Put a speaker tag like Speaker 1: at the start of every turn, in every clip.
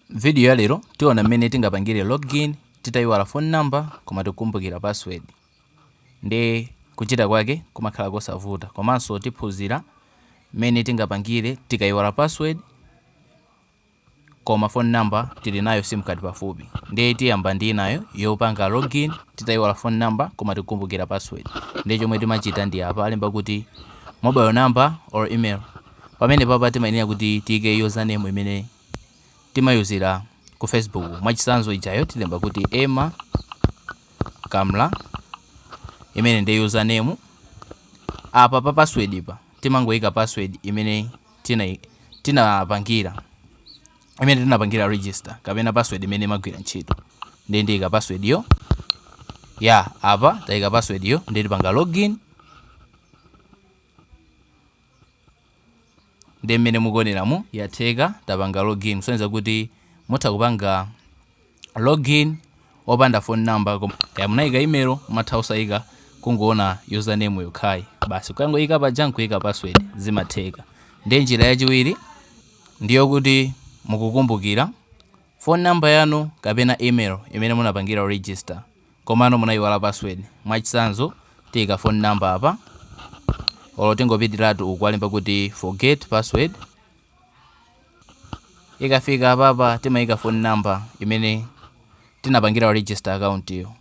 Speaker 1: Video ya lero, tiona mmene tingapangire login titaiwala phone number koma tikukumbukira password. Ndiye kuchita kwake kumakhala kosavuta. Komanso tiphunzira mmene tingapangire tikaiwala password koma phone number tili nayo sim card pafupi. Ndiye tiyamba ndi inayo yopanga login titaiwala phone number koma tikukumbukira password. Ndiye chomwe timachita ndi apa alemba kuti mobile number or email. Pamenepapa timayenera kuti tiike username imene timayuzira ku facebook. Mwachitsanzo ijayo tilemba kuti Emma Kamla imene ndi username. Apa pa password pa timangoika password imene tinapangira imene tinapangira register kapena password imene imagwira ntchito. Ndiye ndiika password yo. Yah apa taika password yo ndiye tipanga login. ndiye mmene mukuoneramu yatheka tapanga login kusonyeza kuti mutha kupanga login opanda phone number kaya munayika email matha osayika kungoona username yokhayi basi kukangoyika paja nkuyika password zimatheka ndiye njira yachiwiri ndiyo kuti mukukumbukira phone number yanu kapena email imene munapangira register komano munayiwala password mwachisanzo tiyika phone number apa olo tingopitiratu uku alemba kuti forget password ikafika apapa timayika phone number imene tinapangira register account yo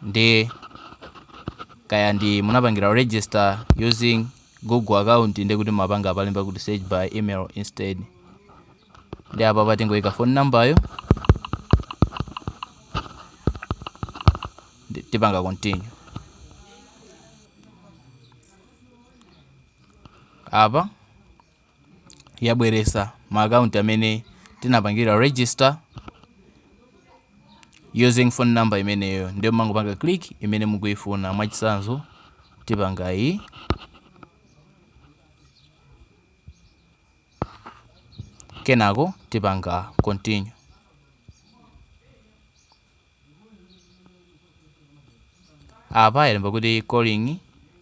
Speaker 1: ndi kaya ndi munapangira register using google account ndi kuti mumapanga apa alemba kuti search by email instead ndi apa apa tingoyika phone number yo tipanga continue apa yabweresa ma account amene tinapangira register using phone number imeneyo ndi mumangopanga click imene mukuifuna mwachisanzo tipanga iyi kenako tipanga continue. Apa alemba kuti calling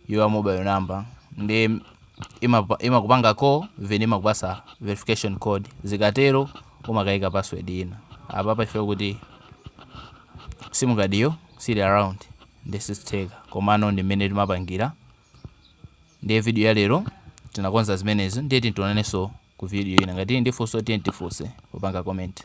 Speaker 1: your mobile number ndi imapa- imakupanga call then imakupasa verification code zikatero umakayika password ina apa pachifukwa kuti sim card yo sili around ndi sizitheka komano ndi mmene timapangira ndiye video ya lero tinakonza zimenezo ndiye tidzaonananso ku video ina ngati muli ndi funso mutha kutifunsa popanga comment